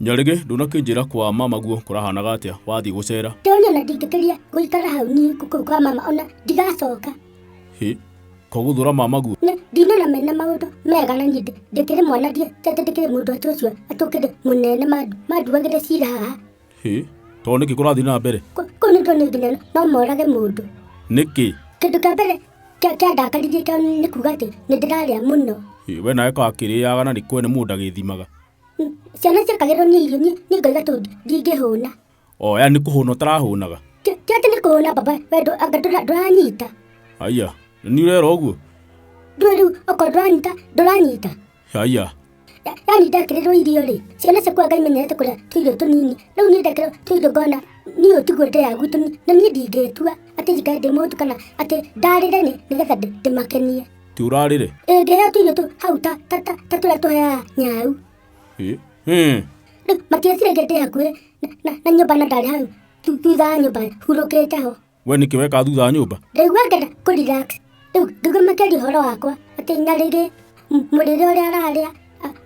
nyarĩgĩ ndũnakĩnjĩra kwa mama guo kũrahanaga atĩa wathiĩ gũcera ndonire na ndingĩkĩria gũikara hau niĩ gũkũ kwa mama ona ndigacoka hĩ kogũthũra mama guo na ndinona mena maũndũ mega na nyindĩ ndĩkĩrĩ mwana ndiĩ tete ndĩkĩrĩ mũndũ atĩ ũcio atũkĩrĩ mũnene mandu manduagĩre cira haha Hĩ, tondũ nĩkĩ kũrathiĩ na mbere Kũ- kũu nĩ tuonire nginya no morage mũndũ nĩkĩ kĩndũ kĩa mbere kĩa- kĩandakaririe kĩa nĩ kuga atĩ nĩ ndĩrarĩa mũno Hĩ, we nawe kakĩrĩaga na nĩ kwene mũndũ agĩthimaga Mm, ciana ciakagĩrwo nĩ irio niĩ niĩ ngoiga tondũ ndingĩhũna o ya nĩ kũhũna ũtarahũnaga Kĩ- kĩrĩa kĩ nĩ kũhũna baba wendo anga ndũra- ndũranyita aya nĩ ũrera ũguo ndũĩ rĩu okorwo ndũranyita ndũranyita yaya yani ndakĩrĩrwo irio rĩ ciana ciakwa ngai menyerete kũrĩa tũirio tũnini rĩu niĩ ndakĩrwo tũirio ngona niĩ ũtigwĩte ya gwitũ ni- na niĩ ndingĩtua atĩ njikare ndĩ mũndũ kana atĩ ndarĩre nĩ nĩgetha ndĩ- ndĩmakenie ti ũrarĩre ĩngĩheo tũirio tũ hau ta ta- ta- ta tũrĩa tũheaga nyau Ĩ, ĩ, rĩu matiecire ngende yakuĩ na- na- na nyũmba na ndarĩ hau thu- thutha wa nyũmba hurũkĩte ho we nĩkĩ weka thutha wa nyũmba ndaigua ngenda kũ relax rĩu ngĩgua makĩaria ũhoro wakwa atĩ nyarĩrĩ mũrĩre ũrĩa ararĩa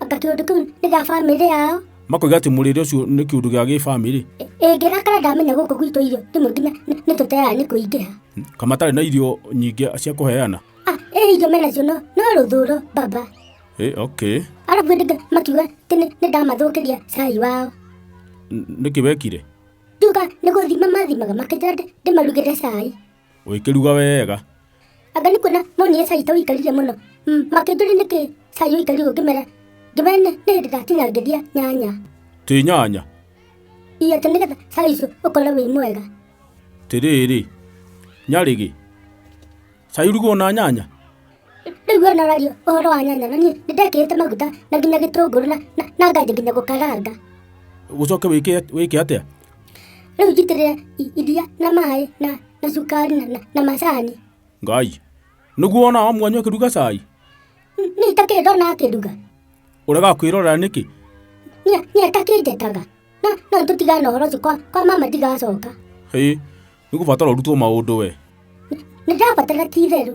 anga kĩũndũ kĩu nĩ gĩa bamĩrĩ yao makoiga atĩ mũrĩre ũcio nĩ kĩũndũ gĩa gĩbamĩrĩ ĩngĩrakara ndamenya gũkũ gwitũ irio rĩmwe nginya nĩ- nĩ tũteaga nĩ kũingĩha ka matarĩ na irio nyingĩ cia kũheana Ah, ĩ irio menacio no no rũthũro baba Eh, okay arabu ndĩga makiuga atĩ nĩ- nĩ ndamathũkĩria cai wao N- nĩkĩ wekire Tuga nĩ gũthima mathimaga makĩnjĩra ndĩ- ndĩmarugĩre cai ũĩkĩruga wega anga nĩ kuona monire cai ta ũikarire mũno Mm, makĩnjũria nĩkĩ cai ũikarire ũguo ngĩmera ngĩmera nĩ nĩ hĩndĩ ndatinangĩria nyanya tĩ nyanya iyo atĩ nĩgetha cai ũcio ũkorwo wĩ mwega tĩrĩrĩ nyarĩgĩ Cai uruguo na nyanya? Rĩu we ũraria ũhoro wa nyanya na niĩ nĩ ndekĩrĩte maguta na nginya gĩtũngũrũ na na- na nganjia nginya gũkaranga. Ũcoke wĩke wĩke atĩa? Rĩu njitĩrĩre i- iria na maĩ na na cukari na- na na macani. Ngai. Nĩguo wona wa mwanyu akĩruga cai? N- Niĩ itakĩrĩ ndona akĩruga. Ũrega kwĩrorera nĩkĩ? Niĩ niĩ atakĩnjetaga. Na no tũtigane ũhoro ũcio kwa kwa mama ndigacoka. Hĩ, Nĩ gũbatara ũrutwo maũndũ we. Nĩ ndabatara ti itherũ.